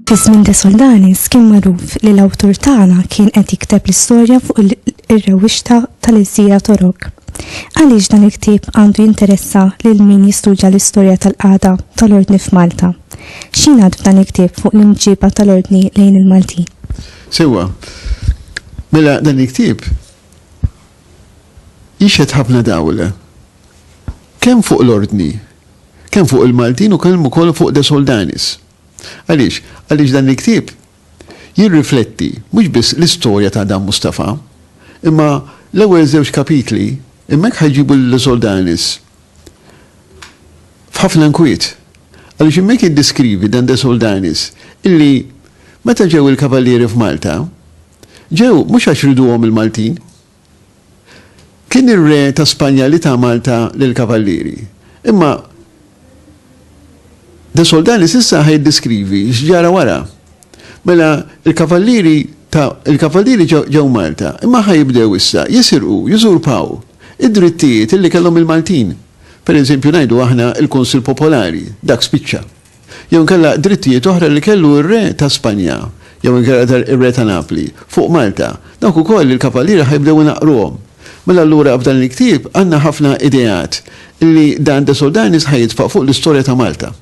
Fis-żmien de Soldanis kien magħruf li l-awtur tagħna kien qed jikteb l-istorja fuq ir-rewwixta tal-Iżjira Torok. Għaliex dan il-ktieb għandu jinteressa lil min jistudja l-istorja tal-qagħda tal-ordni f'Malta? X'jingħad f'dan il-ktieb fuq l-imġiba tal-Ordni lejn il-Maltin? Sewwa. Mela dan il-ktieb jixhed ħafna dawl. Kemm fuq l-Ordni, kemm fuq il-Maltin u kemm ukoll fuq De Soldanis. Għaliex? Għaliex dan il-ktieb jirrifletti mhux biss l-istorja ta' Adam Mustafa, imma l-ewwel żewġ kapitli hemmhekk ħajġibu lil De Soldanis f'ħafna nkwiet. Għaliex hemmhekk jiddeskrivi Dan de Soldanis illi meta ġew il-Kavallieri f'Malta, ġew mhux għax riduhom il-Maltin. Kien ir-Re ta' Spanja li ta Malta lill-Kavallieri. Imma de Soldanis issa ħa jiddeskrivi x'ġara wara. Mela l-Kavallieri ta' il-Kavallieri ġew Malta, imma ħa jibdew issa jisirqu, jużurpaw id-drittijiet illi kellhom il-Maltin. Pereżempju ngħidu aħna l-Kunsill Popolari, dak spiċċa. Jew inkella drittijiet oħra li kellu r-Re ta' Spanja, jew inkella r-Re ta' Napli, fuq Malta, dawk ukoll il-Kavallieri ħa jibdew inaqqruhom. Mela allura f'dan il-ktieb għandna ħafna ideat li Dan de Soldanis ħa jitfa' fuq l-istorja ta' Malta.